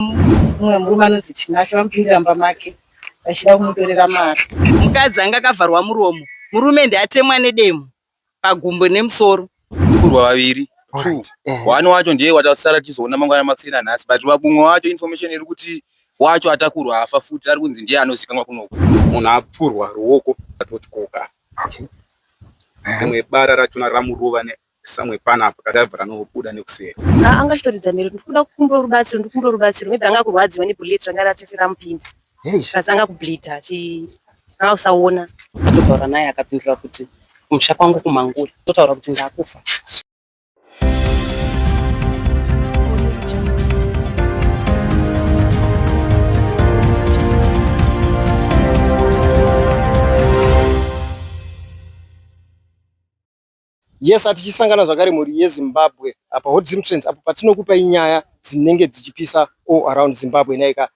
mumwe murume anonzi Tinashe vamupindira mumba make vachida kumutorera mari. Mukadzi anga akavharwa muromo, murume ndiatemwa nedemo pagumbo nemusoro. Kurwa vaviri two one wacho ndiye watasara tizoona mangwana makuseni anhasi but vamwe wacho information iri kuti wacho atakurwa afa futi ari kunzi ndiye anozikanwa kunoko munhu apfurwa ruoko atotyoka rimwe bara rachona ramurova Samwe pana apa kadavhura anobuda nekuseri. Ah, anga chitoridza mhere kuti ndikuda kukumbira rubatsiro, ndikumbira rubatsiro. Maybe anga kurwadziwa ne bullet ranga ratese ramupinda. Plus anga kubleed achi anga kusaona. Ndotaura naye akapindura kuti kumusha kwangu kumangura. Ndotaura kuti ndakufa. Yes, atichisangana zvakare mhuri yeZimbabwe apa Hot Zim Trends apo patinokupai nyaya dzinenge dzichipisa all around Zimbabwe nhaika.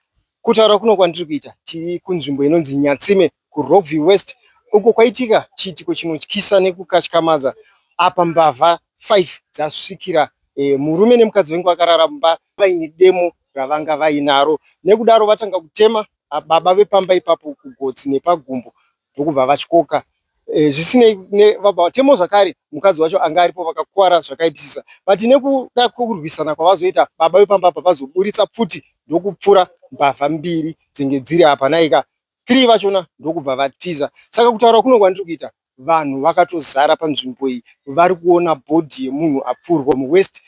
Kutaura kuno kwandiri kuita tiri kunzvimbo inonzi Nyatsime kuRockview West uko kwaitika chiitiko chinotyisa nekukatyamadza apa mbavha 5 dzasvikira e, murume nemukadzi vengu vakarara mumba vaine demo ravanga vainaro nekudaro vatanga kutema baba vepamba ipapo kugotsi nepagumbo ndokubva vatyoka. Zvisinei, vatemo zvakare mukadzi wacho anga aripo vakakuvara zvakaipisisa but nekuda kwekurwisana kwavazoita baba vepamba apa vazoburitsa pfuti ndokupfura mbavha mbiri dzenge dziri apa nhaika three vachona ndokubva vatiza. Saka kutaura kuno kwandiri kuita vanhu vakatozara panzvimbo iyi vari kuona body yemunhu apfurwa muwest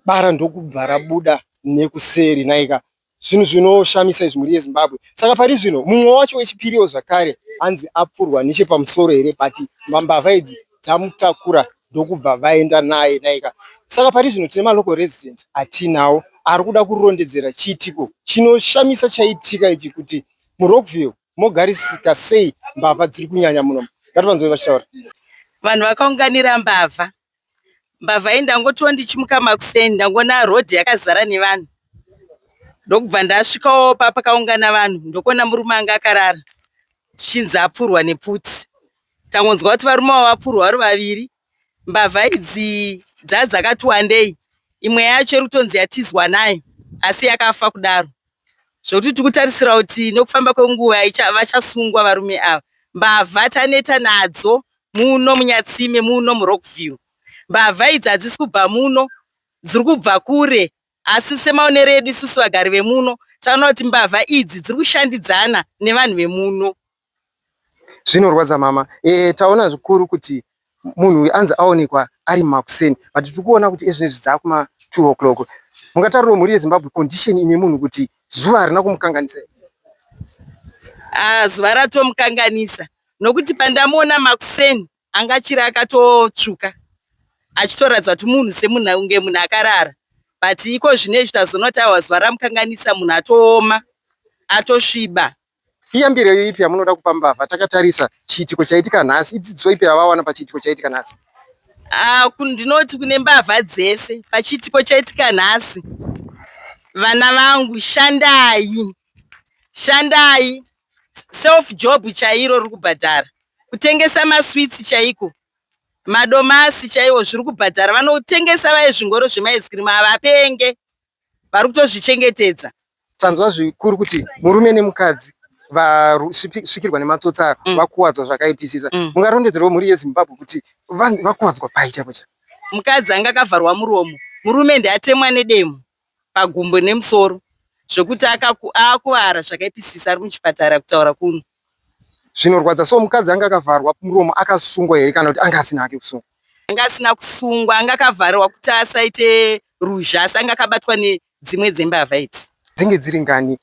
bara ndokubva rabuda nekuseri nhaika zvinhu zvinoshamisa izvi mhuri yezimbabwe saka pari zvino mumwe wacho wechipiriwo zvakare hanzi apfurwa nechepamusoro here but mbavha idzi dzamutakura ndokubva vaenda naye naika saka pari zvino tine malocal residence atinawo ari kuda kurondedzera chiitiko chinoshamisa chaitika ichi kuti murockville mogarisika sei mbavha dziri kunyanya muno ngativanzoi vachitaura vanhu vakaunganira mbavha mbavha iyi ndangotiwo ndichimuka makuseni ndangoona road yakazara nevanhu ndokubva ndasvikawo papakaungana vanhu ndokuona murume anga akarara zvichinzi apfurwa nepfuti tangonzwa kuti varume avo vapfurwa vari vaviri mbavha idzi dzaa dzakati wandei imwe yacho iri kutonzi yatizwa nayo asi yakafa kudaro zvekuti tiri kutarisira kuti nekufamba kwenguva vachasungwa varume ava. Mbavha taneta nadzo muno muNyatsime muno muRockville. Mbavha idzi hadzisi kubva muno, dziri kubva kure asi semaonero edu isusu vagari vemuno tinoona kuti mbavha idzi dziri kushandidzana nevanhu vemuno Zvinorwadza mama eeh taona zvikuru kuti munhu uyu anzi aonekwa ari makuseni but tiri kuona kuti ezvinezvi dzava kuma two o'clock. Mungatarirwo mhuri yeZimbabwe condition ine munhu kuti zuva harina kumukanganisa here? Aah zuva ratomukanganisa nokuti pandamuona makuseni anga achiri akatotsvuka achitoratidza kuti munhu semunhu kunge munhu akarara but iko zvinezvi tazoona kuti awa zuva ramukanganisa munhu atooma atosviba. Iyambiro ipi yamunoda kupa mbavha takatarisa chiitiko chaitika nhasi? Idzidziso ipi yavawana pachiitiko chaitika nhasi? Ah, ndinoti kune mbavha dzese pachiitiko chaitika nhasi, vana vangu shandai, shandai self job chairo riri kubhadhara, kutengesa maswitsi chaiko, madomasi chaiwo zviri kubhadhara. Vanotengesa vaye zvingoro zvemaiskirimu havapenge, vari kutozvichengetedza tanzwa zvikuru kuti murume nemukadzi vasvikirwa nematsotsi ayo mm. vakuwadzwa zvakaipisisa mm. mungarondedzerwa mhuri yezimbabwe kuti vanhu vakuwadzwa pai chaipo cha mukadzi anga akavharwa muromo murume ndiatemwa nedemo pagumbo nemusoro zvekuti akuvara zvakaipisisa ari muchipatara kutaura kuno zvinorwadza so mukadzi anga akavharwa muromo akasungwa here kana kuti anga asina ake kusungwa anga asina kusungwa anga akavharirwa kuti asaite ruzha asi anga akabatwa nedzimwe dzembavha idzi dzinge dziri ngani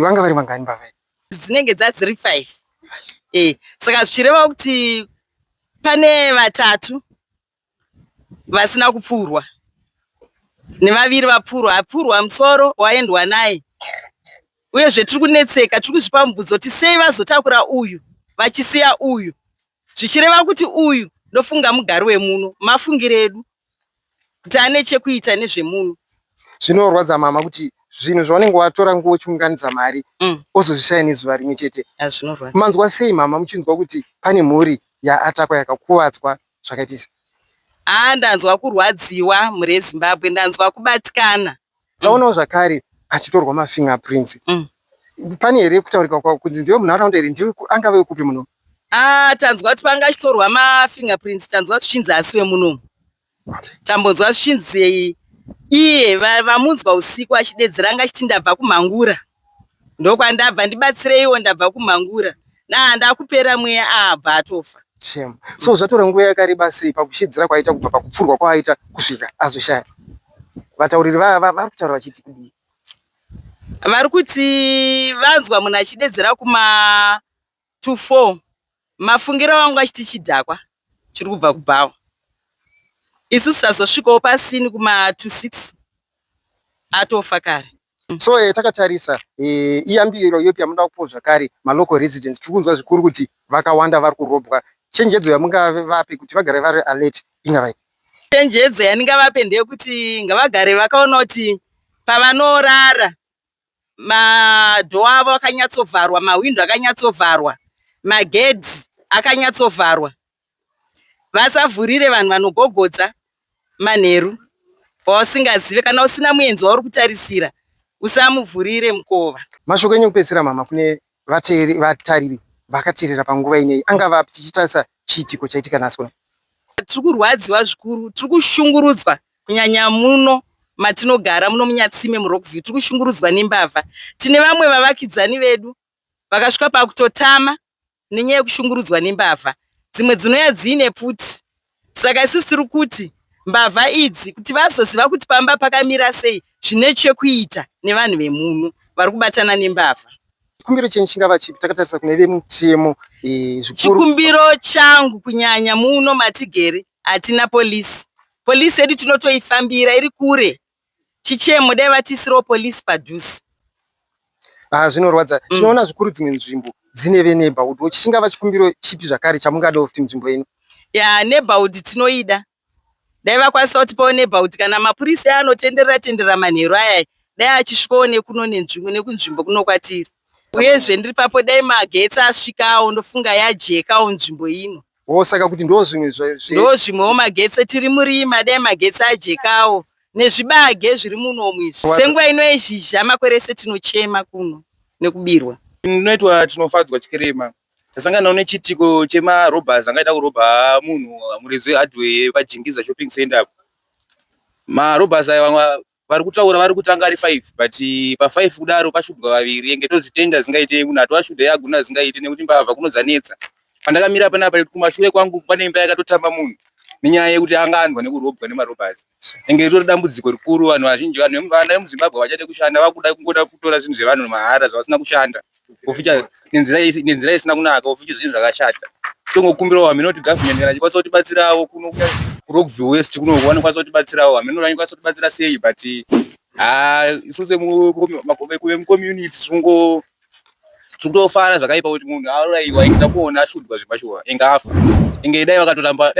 vanga vari vangani mbavha idzi dzinenge dzadziri five e saka zvichireva kuti pane vatatu vasina kupfurwa nevaviri vapfurwa apfurwa musoro waendwa naye uyezve tiri kunetseka tiri kuzvipa mubvunzo kuti sei vazotakura uyu vachisiya uyu zvichireva kuti uyu ndofunga mugari wemuno mafungiro edu kuti ane chekuita nezvemuno zvinorwadza mama kuti zvinhu zvaunenge watora nguva uchiunganidza mari mm. ozozvishaya nezuva rimwe chete manzwa sei mama muchinzwa kuti pane mhuri yaatakwa yakakuvadzwa zvakaitisa Haa ndanzwa kurwadziwa mhuri yezimbabwe ndanzwa kubatikana. Taonawo zvakare achitorwa mafinger prints. Mm. Pane here kutaurika kwa kunzi ndiwe munharaunda here ndiwe angave wekupi muno? Ah, tanzwa kuti panga achitorwa mafinger prints tanzwa zvichinzi asi wemunomu. Okay. Tambonzwa zvichinzi iye vamunzwa usiku achidedzera anga achiti ndabva kumhangura. ndokwandabva ndibatsireiwo ndabva kumhangura naa ndakupera mweya aabva ah, atofa shem so zvatora nguva yakareba sei pakushidzira kwaita kubva pakupfurwa kwaaita kusvika azoshaya vatauriri vaya vari kutaura vachiti kudii vari kuti vanzwa munhu achidedzera kuma to four mafungiro avangu achiti chidhakwa chiri kubva kubhawa isu sazosvikawo pasini kuma to six atofa kare so eh, takatarisa eh, iyambiro yopi yamunoda kupo zvakare malocal residents tiri kunzwa zvikuru kuti vakawanda vari kurobwa chenjedzo yamungavape kuti vagare vari alert ingavai chenjedzo yandingavape ndeyekuti ngavagare vakaona kuti pavanorara madhoo avo akanyatsovharwa, mahwindo akanyatsovharwa, magedhi akanyatsovharwa. Vasavhurire vanhu vanogogodza manheru wausingazive. Kana usina muenzi wauri kutarisira, usamuvhurire mukova. Mashoko enyu ekupedzisira mama kune vateeri vatariri vakateerera panguva ineyi angava api tichitarisa chiitiko chaitika nhasi kuno? Tiri kurwadziwa zvikuru, tiri kushungurudzwa Kunyanya muno matinogara muno muNyatsime muRockview tiri kushungurudzwa nembavha. Tine vamwe vavakidzani vedu vakasvika pakutotama nenyaya yekushungurudzwa nembavha. Dzimwe dzinouya dziine pfuti. Saka isusu tiri kuti mbavha idzi kuti vazoziva kuti pamba pakamira sei zvine chekuita nevanhu vemuno vari kubatana nembavha. Chikumbiro chenyu chingava chipi takatarisa kune vemutemo? Chikumbiro changu kunyanya muno matigere Hatina police. Police yedu tinotoifambira iri kure. Chichemo dai vatiisirawo police padhuze. Ah, zvinorwadza. Mm. Tinoona zvikuru dzimwe nzvimbo dzine veneighborhood watch. Chingava chikumbiro chipi zvakare chamungadawo kuti nzvimbo yenyu? Ya neighborhood tinoida. Dai vakwanisa kuti pawo neighborhood kana mapurisa aya anotenderera tenderera manheru aya dai achisvikawo nekuno nenzvimbo nekunzvimbo kuno kwatiri. Uyezve ndiri papo dai magetsi asvikawo ndofunga yajekawo nzvimbo ino. Oh, saka kuti ndo zvimwe ndo zvimwewo magetsi tiri murima dai magetsi ajekawo nezvibage zviri munomu izvi senguva ino yezhizha makore ese tinochema kuno nekubirwa ndinoitwa tinofadzwa chikirema tasanganawo nechitiko chemarobhers angaita kurobha munhu murezi wehardware pajingiza shopping center apo marobhers aya vamwe vari kutaura vari kutanga ari five but pa five kudaro pashudwa vaviri enge tozvitenda zingaite kunato ashuda yaguna zingaite nekuti mbavha kunodzanetsa pandakamira panapa kumashure kwangu pane imba yakatotamba munhu nenyaya yekuti anga anzwa nekurobwa nemarobazi enge ritori dambudziko rikuru vanhu vazhinji vanhu vana vemuzimbabwe vachade kushanda vakuda kungoda kutora zvinhu zvevanhu mahara zvavasina kushanda kuficha nenzira nenzira isina kunaka kuficha zvinhu zvakashata tongokumbirawo hameno kuti government kana chikwanisa kutibatsirawo kuno kurockville west kuno vanokwanisa kutibatsirawo hameno vanikwanisa kutibatsira sei but ha isu sekuve mucommunity zvingo zvokutofara zvakaipa kuti munhu auraiwa ingida kuona ashudwa zvepashuwa inge afa inge dai vakatoramba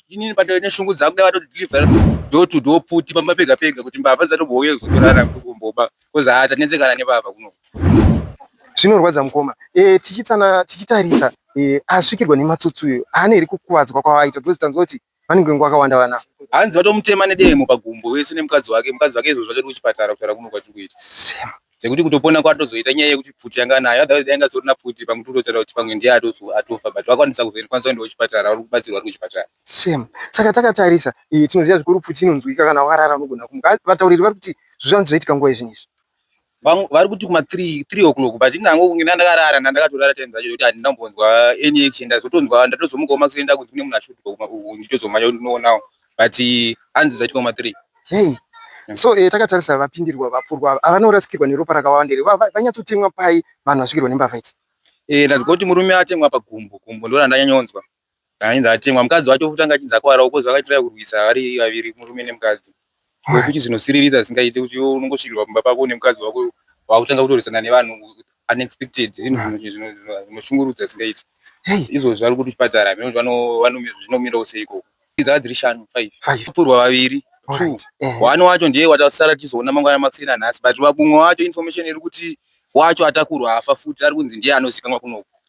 inini patoe neshungu dzangu dai vatoti deliver do to do pfuti pamba pega pega kuti mbavha dzatombouya kuzotorana kukumboba because haa tanetsekana nebaba kuno zvinorwadza mukoma e, tichitsana tichitarisa e, asvikirwa nematsotsi uyo haana here kukuvadzwa kwavaita because tanzwa kuti vanenge nguva akawanda vana hanzi vatomutema nedemo pagumbo wese nemukadzi wake mukadzi wake izvozvo achiri kuchipatara kutaura kuno kwatiri kuita sekuti kutopona kwatozoita nyaya yekuti pfuti yanga nayo otherwise yanga sorina pfuti pamwe tototaura kuti pamwe ndiye atofa but vakwanisa kuzoenekwanisa kuenda kuchipatara vari kubatsirwa vari kuchipatara Shame. Saka takatarisa iyi tinoziva zvikuru pfuti inonzwika kana warara unogona kumuka. Vatauriri vari kuti zvivanzi zvaitika nguva izvinhu izvi. Vamwe vari kuti kuma 3 3 o'clock but nango kunge ndakarara ndandakatorara time dzacho kuti handina kumbonzwa any action ndazotonzwa ndatozomukawo makuseni ndakunzi kune munhu ashutirwa kuma uku ndichitozomanya kuti ndinoonawo but hanzi zvaitika kuma 3. Hey. So eh, takatarisa vapindirwa vapfurwa ava avanorasikirwa neropa rakawanda here Va- va- vanyatsotemwa pai vanhu vasvikirwa nembavha idzi. Eh, ndanzwa kuti murume atemwa pagumbo gumbo ndorandanyanyonzwa. Ainzi atemwa mukadzi wacho futi anga achinzi akwarawo kozi vakaitira kurwisa vari vaviri murume nemukadzi. Iwe futi zvinosiririsa zvisingaite kuti iwe unongosvikirwa kumba pako nemukadzi wako wakutanga kutorwisana nevanhu unexpected zvinhu zvinoshungurudza zvisingaiti. Izvozvi vari kuchipatara hameno kuti zvinomirawo sei ikoko. Dzava dziri shanu five. Vapfurwa vaviri two one wacho ndiye watasara tichizoona mangwana makuseni anhasi but vamwe wacho information iri kuti wacho atakurwa afa futi ari kunzi ndiye anozikanwa kunoku.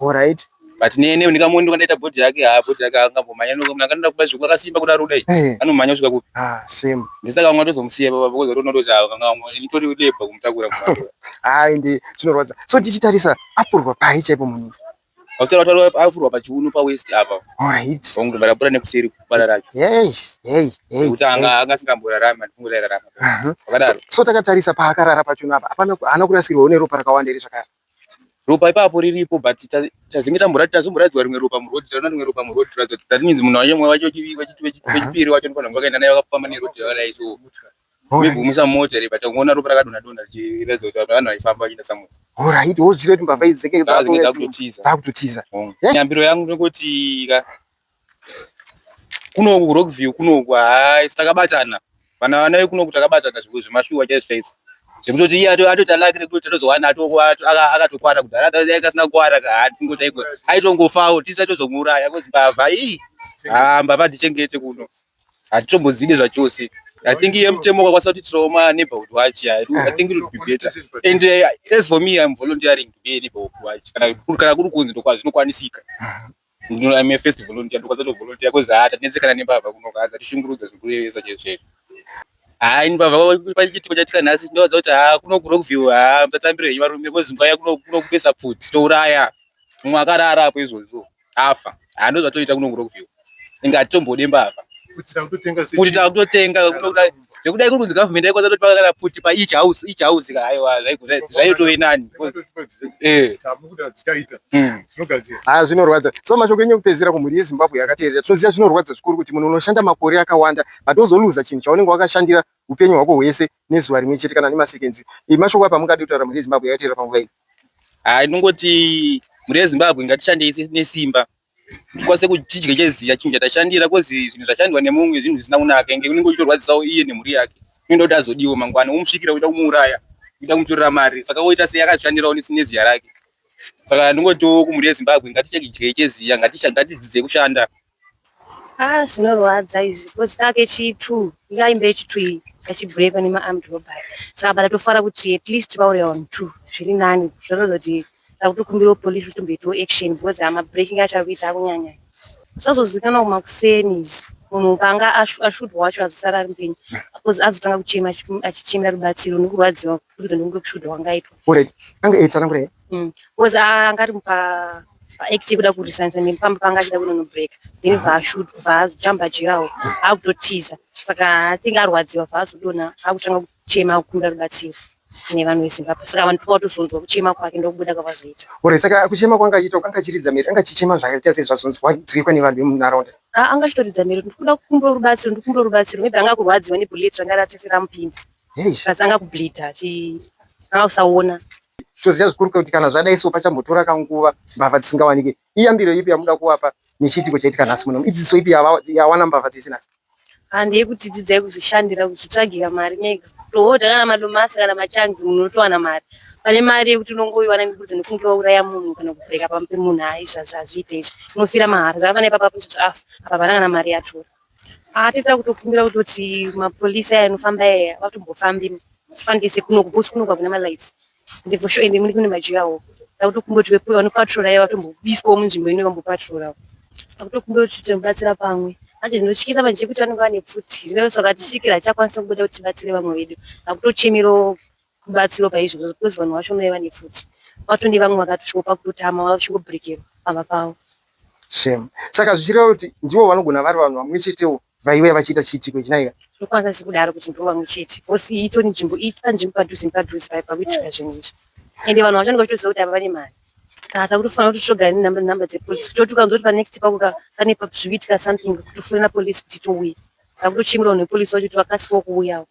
Horait. But nene ndikamuona ndokandaita body yake ha body yake angambomhanya noko mna kanoda kuba zviku akasimba kuda ruda hey. anomhanya kusvika kupi ah same ndisaka vanga tozomusiya baba because rona ndozi vanga nitori lebwa kumutakura kumatoa hayi ndi chinorwadza so tichitarisa afurwa pai chaipo munhu Hotel hotel afurwa pa chiuno pa west apa all right wangu bara bura nekuseri kubara racho hey hey hey kuti anga anga singambora rama ndifungo rara rama uh -huh. so, so takatarisa pa akarara pa chiuno apa hapana hana kurasirwa une ropa rakawanda iri zvakara ropa ipapo riripo but tazinge tamborati tazomboraidzwa rimwe ropa muroad taona rimwe ropa muroad ratidza kuti that means munhu wacho mwe wacho wechipiri wacho ndifanira vakaenda naye vakafamba neroad yakadai so migumisa mota ripa tangoona ropa rakadonha donha richiratidza kuti vanhu vaifamba vachienda samwe orit wozvira kuti mbavha idzeke dzakutotiza nyambiro yangu ndokoti ka Kunoku ku Rockview kunoku haa isu takabatana. Vana vana vekunoku takabatana zvemashuwa chaizvo chaizvo. Zvekutoti iye atoita lake rekuti tatozowana akatokwana kudhara dai kasina kukwana ka haa tingoti aigona. Aitongofawo tisu taitozomuuraya kozi mbavha ii haa mbavha hatichengete kuno. Hatitombodzide zvachose. I think iye mutemo wakakwanisa kuti trauma neighborhood watch. I think it would be better. And uh, as for me I'm volunteering to be a neighborhood watch. Kana kuri kunzi ndokwazvinokwanisika. Ndino I'm a first volunteer ndokwanza to volunteer cause haa tanetsekana nembavha kuno kaa dzatishungurudza zvikurevesa chete chete. Haa ini mbavha pachiitiko chaitika nhasi ndinovaudza kuti haa kuno kuRockview haa musatambire henyu varume cause nguva yakuno kuno kupesa pfuti touraya mumwe akarara apo izvozvo afa haa ndozvatoita kuno kuRockview inga hatitombode mbavha. Futi tava kutotenga kuno kudai. zvekudai kuri kunzi government aikwanisa kuti pakagara pfuti pa each house each house ka haiwa zvaitove nani eh tabuda dzitaita hmm. zvinogadzira ha ah, zvinorwadza so mashoko enyu kupedzera kumhuri yezimbabwe yakateerera tinoziva zvinorwadza zvikuru kuti munhu unoshanda makore akawanda but ozoluza chinhu chaunenge wakashandira upenyu hwako hwese nezuva rimwe chete kana nemasekenzi eh, mashoko apa mungadi kutaura mhuri yezimbabwe yakateerera panguva ino ha ah, inongoti mhuri yezimbabwe ngatishandei nesimba ndikwanise kuchidya cheziya chinhu chatashandira kozi zvinhu zvashandwa nemumwe zvinhu zvisina kunaka inge unenge uchitorwadzisawo iye nemhuri yake unoda kuti azodiwo mangwana womusvikira uida kumuuraya uida kumutorera mari saka woita sei akazvishandirawo neziya rake saka ndingotiwo kumhuri yezimbabwe ngatichakidye cheziya ngatidzidzei kushanda ah zvinorwadza izvi kozi kake chitu yaimbe chitu iyi kachibhurekwa nemaarmed robbery saka batatofara kuti at least vauraya vanhu two zviri nani zvorozoti Takutokumbirawo police kuti mboitawo action because ama breaking acho akuita akunyanya. Zvazozikanwa kumakuseni izvi munhu panga ashudwa wacho azosara ari mupenyu because azotanga kuchema achichemera rubatsiro nekurwadziwa kuburikidza nekunge kushudwa kwangaitwa. Already anga eitsanangura mm. because anga ari pa act kuda kurisanisa nepamba panga achida kunonobreak then vaashudwa vaazojamba jirawo akutotiza saka atinge arwadziwa vaazodona akutanga chema kukunda rubatsiro kune vanhu vezimbabwe saka vanhu toka watozonzwa kuchema kwake ndokubuda kwavazoita ore saka kuchema kwanga achiita kanga achiridza mhere anga achichema zvakaita sei zvazonzwikwa nevanhu vemunharaunda ah, anga achitoridza mhere ndikuda kukumbira rubatsiro ndikumbira rubatsiro maybe anga kurwadziwa nebullet ranga ratese ramupinda kasi anga kubleeda anga kusaona toziva zvikuru kuti kana zvadai so pachambotora kanguva mbavha dzisingawanike iyambiro ipi yamuda kuvapa nechiitiko chaitika nhasi muno idzidziso ipi yawana mbavha dzese nhasi handi yekuti dzidzai kuzvishandira kuzvitsvagira mari mega tohodha kana madomasi kana machanzi munhu unotowana mari pane mari yekuti unongoiwana ngekuti nekunge wauraya munhu kana kubreka pamwe pemunhu hai izvazvi hazviite izvi unofira mahara saka pane ipapa kuti afa apa pana kana mari yatora atita kutokumbira kutoti mapolisi aya anofamba aya vatombofambi fandise kunokubusi kunoka kuna malights ndebvo sho ende mune kune majirawo takutokumboti vepo vanopatrora iye vatombobiswawo munzvimbo ino vambopatrorawo takutokumbira kuti tinobatsira pamwe manje ndinotyisa manje chekuti vanenge vane pfuti zvinove saka tisvikira hatichakwanisa kubuda kuti tibatsire vamwe vedu takutochemerawo kubatsiro paizvo because vanhu vacho unove vane pfuti vatone vamwe vakatosviko pakutotama vavachingobrekerwa pamba pavo shame saka zvichireva kuti ndivo vanogona vari vanhu vamwe chetewo vaive vachiita chiitiko ichi naiga ndokwanza sikudaro kuti ndovamwe chete bcause iyi itori nzvimbo iyi panzvimbo padhuze nepadhuze paye pakuitika zvinhu izvi ende vanhu vacho ndinga vachitoziva kuti ava vane mari kana takutofanira kuti togara nenumber dzepolice kutotuka nzoti panext pakuka pane zvikuitika something kutofonera police kuti touya takutochimurawo nepolice vacho kuti vakasikawo kuuyawo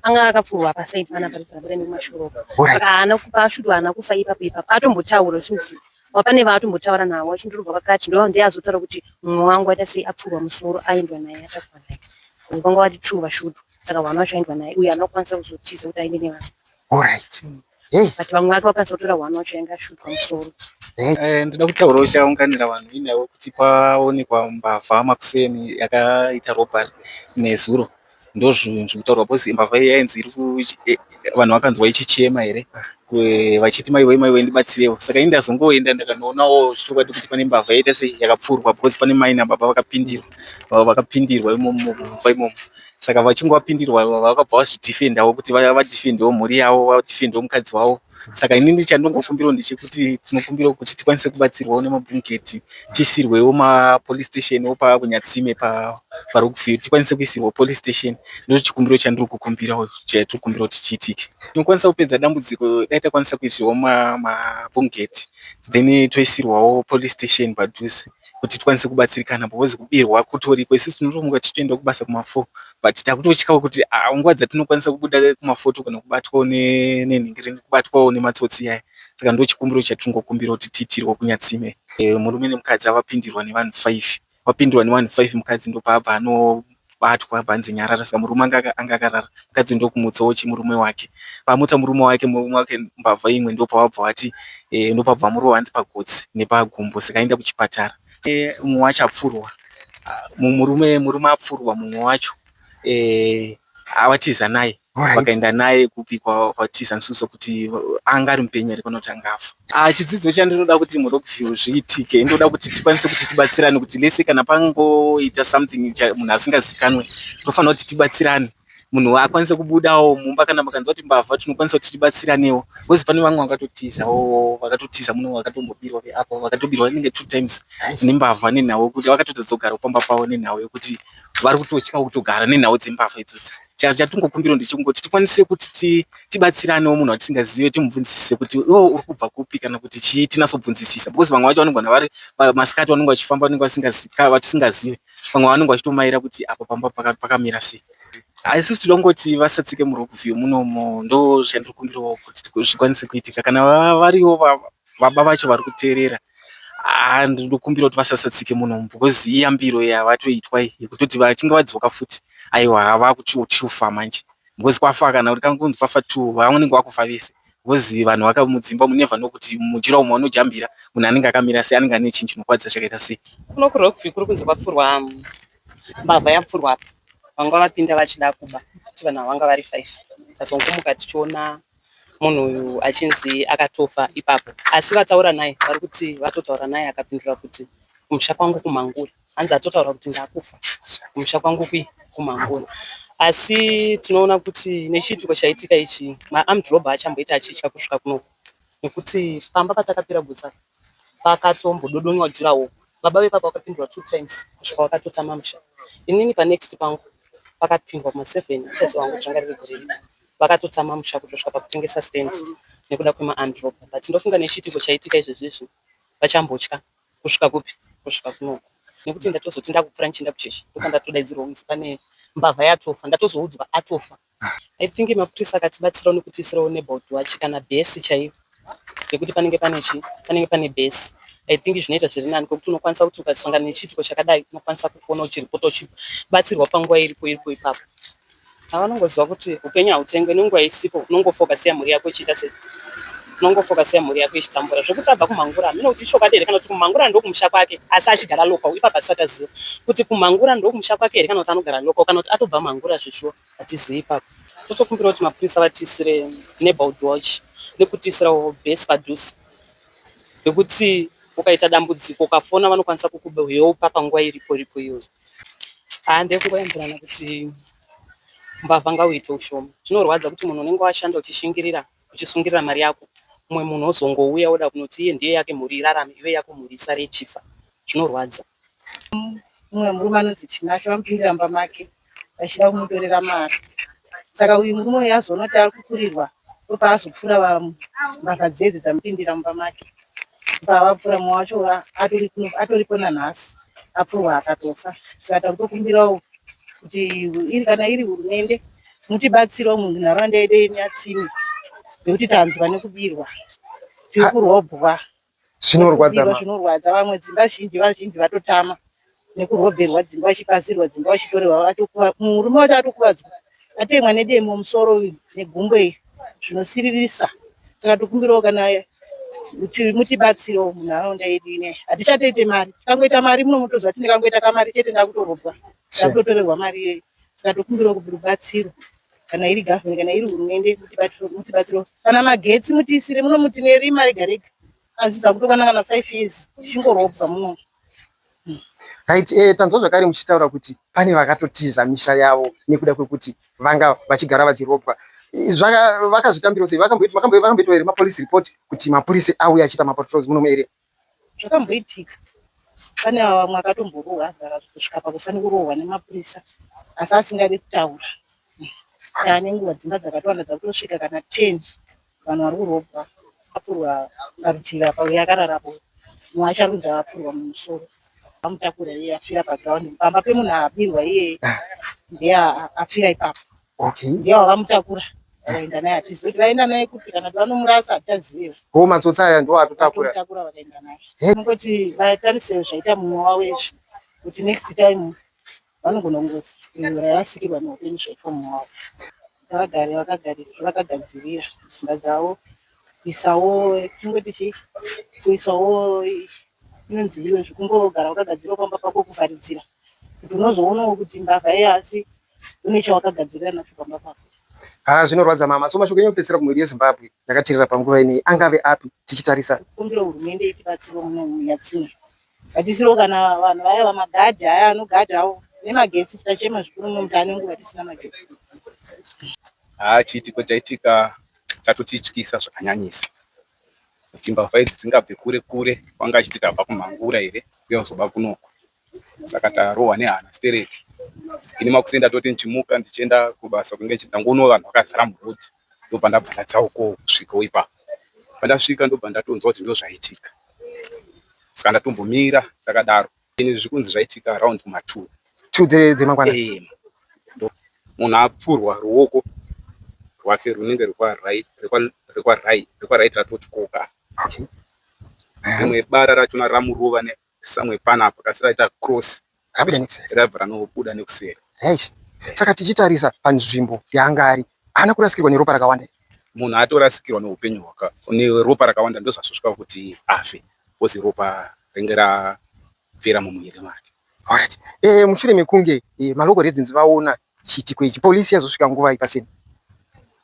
anga akapfurwa apa side panapa ndikabura nemashuro Alright. saka haana kupa ashuti haana kufa ipapo ipapo atombotaura since wapane vaatombotaura navo achindirova pakati ndo ndiye azotaura kuti mumwe wangu aita sei apfurwa musoro aendwa naye atakwa naye Vanhu vanga vati true vashutu saka hwana vacho aendwa naye uye haana kukwanisa kuzotiza kuti aende nevanhu Alright. Hey. But vamwe vake vakazotora one wacho yanga ashutwa musoro. Hey. Eh, ndida kutaura uchaunganira vanhu inewo kuti paonekwa mbavha makuseni yakaita robbery nezuro ndozvinhu zvekutaurwa because imbavha iyi yainzi iri eh, vanhu vakanzwa ichichema here vachiti maiwe maiwe ndibatsirewo saka ini ndazongoenda ndakanoonawo zvichokwadi kuti pane mbavha yaita seyakapfurwa because pane mai nababa vakapindirwa vakapindirwa imomo mumba imomo saka vachinge vapindirwa vakabva vazvidhifendawo kuti vaya vadhifendewo mhuri yavo vadhifendewo mukadzi wavo saka ini ndichandongokumbirawo ndechekuti tinokumbirawo kuti tikwanise kubatsirwawo nemabhungeti tiisirwewo mapolice station wo pakunyatsime pari kufio tikwanise kuisirwa police station ndochikumbiro chandiri kukumbirawo chatiri kumbirawo kuti chiitike tinokwanisa kupedza dambudziko dai takwanisa kuisirwa mabhungeti then toisirwawo police station padhuze kuti tikwanise kubatsirikana because kubirwa kutoriko isusu tinotomuka tichitoenda kubasa kumafo but takutotyawo kuti ah, nguva dzatinokwanisa kubuda kumafo togona kubatwawo nenhingiri kubatwawo nematsotsi iyaya saka ndo chikumbiro chatingokumbira kuti tiitirwe kunyatsime eh, murume nemukadzi avapindirwa nevanhu five wapindwa nevanhu five mukadzi ndopaabva ano batwa bhanzi nyarara saka murume anga anga akarara mukadzi uyu ndokumutsa ochi murume wake pamutsa murume wake murume wake mbavha imwe ndopawabva wati eh, ndopabva murowa hanzi pagotsi nepagumbo saka aenda kuchipatara eh, mumwe wacho apfurwa ah, murume murume apfurwa mumwe wacho eh, awatiza naye Alright. vakaenda naye kupi kwa- kwatiza nsuso kuti anga ari mupenyu here kana kuti anga afa Ah, chidzidzo chandinoda kuti murockview zviitike ndoda kuti tikwanise kuti tibatsirane kuti lese kana pangoita something cha- munhu asingazikanwe tofanira kuti tibatsirane munhu akwanise kubudawo mumba kana makanzwa kuti mbavha tinokwanisa kuti tibatsiranewo bcause pane vamwe vakatotizawo vakatotiza muno vakatombobirwa veapo vakatobirwa inenge two times nembavha nenhau yekuti vakatotadza kugara pamba pavo nenhau yekuti vari kutotyawo kutogara nenhau dzembavha idzodzi chatingokumbira ndechekungoti tikwanise kuti tibatsiranewo munhu watisingazive timubvunzisise kuti iwo uri kubva kupi kana kuti chii tinasobvunzisisa because vamwe vacho vanogona vari masikati vanenge vachifamba vanenge vatisingazive vamwe vanenge vachitomaira kuti apa pamba pakamira sei asi tinoda kungoti vasatsike murockview munomo ndo zvandiri kumbirawo kuti zvikwanise kuitika kana variwo baba vacho vari kuteerera and ndokumbira kuti vasasatsike muno because iyambiro yavatoitwa yekutoti vachinge vadzoka futi aiwa havakuchiufa manje because kwafa kana kuti kankunzi kwafa two vaunenge wakufa vese because vanhu vakamudzimba munevha nokuti mujira umwe vanojambira munhu anenge akamira sei anenge ane chinhu chinokwadza chakaita sei kuno kurokvi kuri kunzi kwapfurwa um, mbavha yapfurwa apa vanga vapinda vachida kuba kuti vanhu havanga vari five tazongomuka tichiona munhu uyu achinzi akatofa ipapo asi vataura naye vari kuti vatotaura naye akapindura kuti kumusha kwangu kumangura hanzi atotaura kuti ndakufa kumusha kwangu kui kumangura asi tinoona kuti nechiitiko chaitika ichi maarmed robber achamboita achitya kusvika kunoku nekuti pamba patakapira gutsa pakatombododonywa jurawo baba vepapa vakapindura two times kusvika vakatotama musha inini panext pangu pakapindwa kuma seven achasi wangu zvanga riri gore rino vakatotama musha kutosvika pakutengesa stand nekuda kwemaandropa but ndofunga nechiitiko chaitika izvezvizvi vachambotya kusvika kupi kusvika kunoku nekuti ndatozoti ndakupfura ndichienda kuchechi ndoka ndatodaidzirwa kunzi pane mbavha yatofa ndatozoudzwa atofa i think mapurisa akatibatsirawo nekutiisirawo neboard wachi kana bhesi chaiyo ngekuti panenge pane chii panenge pane base I think zvinoita zviri nani kwekuti unokwanisa kuti ukasangana nechiitiko chakadai unokwanisa kufona uchiripota uchibatsirwa panguva iripo iripo ipapo ava unongoziva kuti upenyu hautengwe nenguva isipo unongofokasiya mhuri yako ichiita sei unongofokasiya mhuri yako ichitambura zvekuti abva kumhangura hamina kuti ichokwadi here kana kuti kumhangura ndokumusha kwake asi achigara local ipapo asisati aziva kuti kumhangura ndokumusha kwake here kana kuti anogara local kana kuti atobva mhangura zveshuwa Hatizivi ipapo. Totokumbira kuti mapurisa vatiisire neighborhood watch nekutiisirawo base padhuze yekuti ukaita dambudziko ukafona vanokwanisa kukuheupa panguva iripo iripo iyoyo. Haa ndekungoyambirana kuti mbavha ngauite ushoma. Zvinorwadza kuti munhu unenge washanda uchishingirira uchisungirira mari yako mumwe munhu ozongouya oda kunoti iye ndiye yake mhuri irarame ive yako mhuri isare ichifa. Zvinorwadza. Mumwe murume anonzi Tinashe vamupindira mumba make vachida kumutorera mari saka uyu murume uyu azoona kuti ari kupfurirwa ndopaazopfura mbavha dzedzi dzamupindira mumba make pavapfura mumwe wacho atoripo nanhasi apfurwa akatofa saka takutokumbirawo kuti iri kana iri hurumende mutibatsirawo munharaunda yedu yenyatsimi nekuti tanzwa nekubirwa tiri kurobwa zvinorwadza mama zvinorwadza vamwe dzimba zhinji vazhinji vatotama nekurobherwa dzimba vachipazirwa dzimba vachitorerwa vatokuva murume wacho atokuvadzwa atemwa nedemo musoro uyu negumbo iyi zvinosiririsa saka tikumbirawo kana mutibatsiro munharaunda yedu inei hatichatoite mari tikangoita mari muno mutoziva kuti ndikangoita kamari chete ndakutorobwa ndakutotorerwa mari iyoyi saka tokumbirawo kuti rubatsiro kana iri government kana iri hurumende mutibatsiro kana magetsi mutiisire muno muti nerima rega rega asi dzakutokwana kana five years tichingorobwa muno hmm. right eh, tanzwa zvakare muchitaura kuti pane vakatotiza misha yavo nekuda kwekuti vanga vachigara vachirobwa vakazvitambira sei vakamboitwa here mapolice report kuti mapurisa auya achiita mapatrols muno muarea Zvakamboitika pane vamwe akatomborohwa nzara kusvika pakufana kurohwa nemapurisa asi asingadi kutaura kaa nenguva dzimba dzakatowanda dzakutosvika kana ten vanhu vari kurobwa apurwa parutivi apa uye akararapo mumwe acharudza apurwa mumusoro amutakura iye afira paground pamba pemunhu aabirwa iye ndiye afira ipapo Okay. Ndiye wakamutakura. Vaenda naye atisi kuti vaenda naye kupi kana kuti vanomurasa hatichazivewo. Ko matsotsi aya ndiwo atotakura. Atotakura vakaenda naye. Vanongoti vatarisewo zvaita mumwe wavo izvi kuti next time vanogona kungouraya vasikirwa neupenyu zvaitwa mumwe wavo. Ngavagare vakagarika vakagadzirira dzimba dzavo kuisawo tingoti chii kuisawo inonzi iyo zvekungogara wakagadzirira pamba pako kuvharidzira kuti unozoonawo kuti mbavha iye asi une chawakagadzirira nacho pamba pako ha zvinorwadza mama so mashoko enyu kupedzisira kumhuri yezimbabwe yakaterera panguva inei angave api tichitarisa kumbira hurumende itibatsiro munomuyatsina batisiro kana vanhu vaya vamagadhi aya anogadhawo nemagetsi tichachema zvikuru nomuti ane nguva tisina magetsi haa chiitiko chaitika chatotityisa zvakanyanyisa kuti mbavha idzi dzingabve kure kure kwanga achiti tabva kumhangura here uye kuzoba kunoko saka tarohwa nehana stereki ini makuseni ndatoti ndichimuka ndichienda kubasa kunge ndichindangoonwa vanhu vakazara muroad ndobva ndabva ndadzauko kusvikawo ipapo pandasvika ndobva ndatonzwa kuti ndozvaitika saka ndatombomira takadaro ini zvikunzi zvaitika around ma two two dzemangwana eh, munhu apfurwa ruoko rwake runenge rekwarit ratotyoka rimwe bara rachona ramurova Samwe pana apa kasi raita cross raibva ranobuda nekuseri. Saka tichitarisa panzvimbo yaanga ari haana kurasikirwa neropa rakawanda. Munhu atorasikirwa neupenyu hwaka neropa rakawanda ndozvazosvika kuti afe kozi ropa ringe rapera mumuviri make. Alright. Eh, mushure mekunge eh, malocal residents vaona Chiitiko ichi police yazosvika nguvai paseni?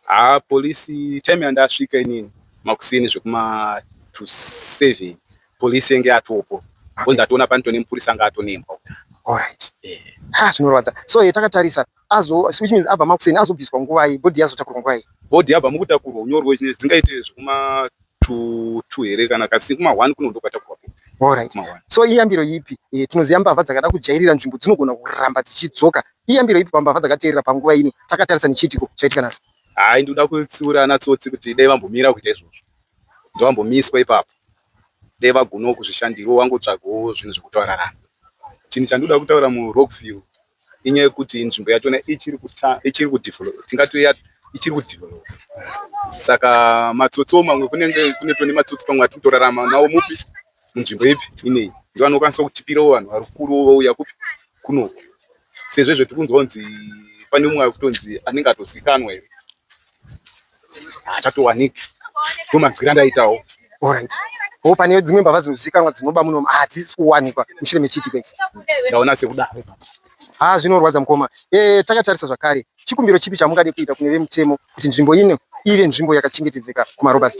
Haa police time yandasvika inini makuseni zvekuma to 7 police yenge yatopo ko ndatoona panito nemupurisa anga atonembwa Alright. Eh. Ha zvinorwadza. So yetakatarisa azo which means abva makuseni azobviswa nguvai body yazotakurwa nguvai? Body yabva mukutakurwa unyorwe zvinhu dzingaite zvekuma two two here kana kasi kuma one kuno ndokwatakurwa Alright. So iyambiro ipi e, tinoziva mbavha dzakada kujairira nzvimbo dzinogona kuramba dzichidzoka. Iyambiro ipi pambavha dzakateerera panguva ino takatarisa nechiitiko chaitika nhasi? Hayi, ndikuda kutsiura ana tsotsi kuti dai vambomira kuita izvozvo, ndovambomiswa ipapo, dai vagonawo kuzvishandirawo, vangotsvagawo zvinhu zvekutorarama. Chinhu chandinoda kutaura muRockville inyaya yekuti nzvimbo yachona ichiri ichiri kudevelop tingati ichiri kudevelop saka matsotso mamwe kunenge kune tone matsotso pamwe atiri kutorarama nawo mupi munzvimbo ipi ineyi ndiwo anokwanisa kutipirawo vanhu vari kuru vouya kupi kunoku sezvo izvo tiri kunzwa kunzi pane umwe akutonzi anenge atozikanwa here haachatowaniki ndomanzwira ndaitawo orit o pane dzimwe mbavha dzinozivikanwa dzinoba muno hadzisi kuwanikwa mushure mechiti kwe ndaona sekudaro ha zvinorwadza mukoma e, takatarisa zvakare chikumbiro chipi chamungade kuita kune vemutemo kuti nzvimbo ino ive nzvimbo yakachengetedzeka kumarobas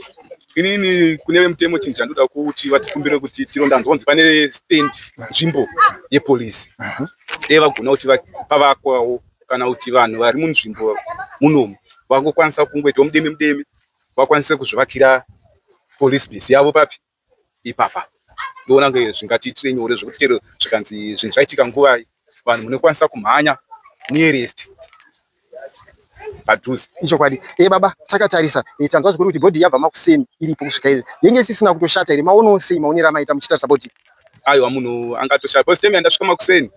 inini kune vemutemo chinhu chandoda kuti vatikumbire kuti tirondanzwanzi pane stand nzvimbo yepolisi mhm. dei vagona kuti pavakwawo kana kuti vanhu vari munzvimbo munomu vangokwanisa kungoitawo mudeme mudeme vakwanise kuzvivakira police base yavo papi ipapa ndoona kunge zvingatiitire nyore zvekuti chero zvikanzi zvinhu zvaitika nguvai vanhu munokwanisa kumhanya nearest padhuze ichokwadi e baba takatarisa e, tanzwa zvikuru kuti bhodhi yabva makuseni iripo kusvika izvi yenge isisina kutoshata here maonawo sei maonera maita muchitarisa bhodhi aiwa munhu angatoshata bcause time yandasvika makuseni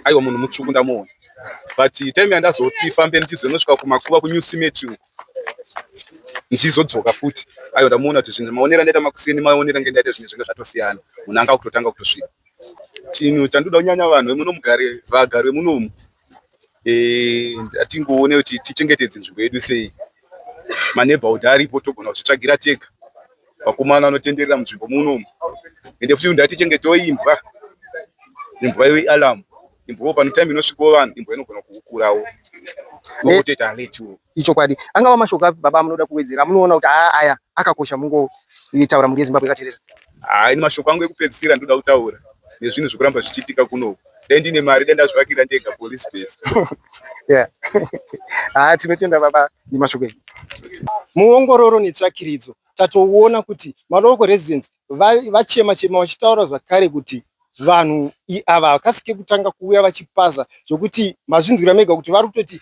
aiwa munhu mutsvuku ndamuona but time yandazoti fambe ndichizonosvika kumakuva kunew cemetry uko ndichizodzoka futi aiwa ndamuona kuti zvinhu maonero andaita makuseni maonero ange ndaita zvinhu zvinge zvatosiyana munhu anga kutotanga kutosvika chinhu chandoda kunyanya vanhu vemunomugare vagari vemunomu eh, atingoone kuti tichengetedze nzvimbo yedu sei maneighborhood aripo togona kuzvitsvagira tega vakomana vanotenderera munzvimbo munomu ende futi ndati chenge toimbwa imbwa iyo ialam imbwawo pano time inosvikawo vanhu imbwa inogona kukurawo okuteta eh, aletiwo ichokwadi angava mashoko api baba munoda kuwedzera munoona kuti aya akakosha mungoitaura mhuri yezimbabwe ikaterera Haa ini mashoko angu ekupedzisira ndoda kutaura nezvinhu zvekuramba zvichiitika kunoku dai ndine mari dai ndazvivakira ndega police base yeah. haa tinotenda baba nemashoko enyu muongororo netsvakiridzo tatoona kuti malocal residents vachema chema vachitaura zvakare kuti vanhu ava havakasike kutanga kuuya vachipasa zvokuti mazvinzwira mega kuti vari kutoti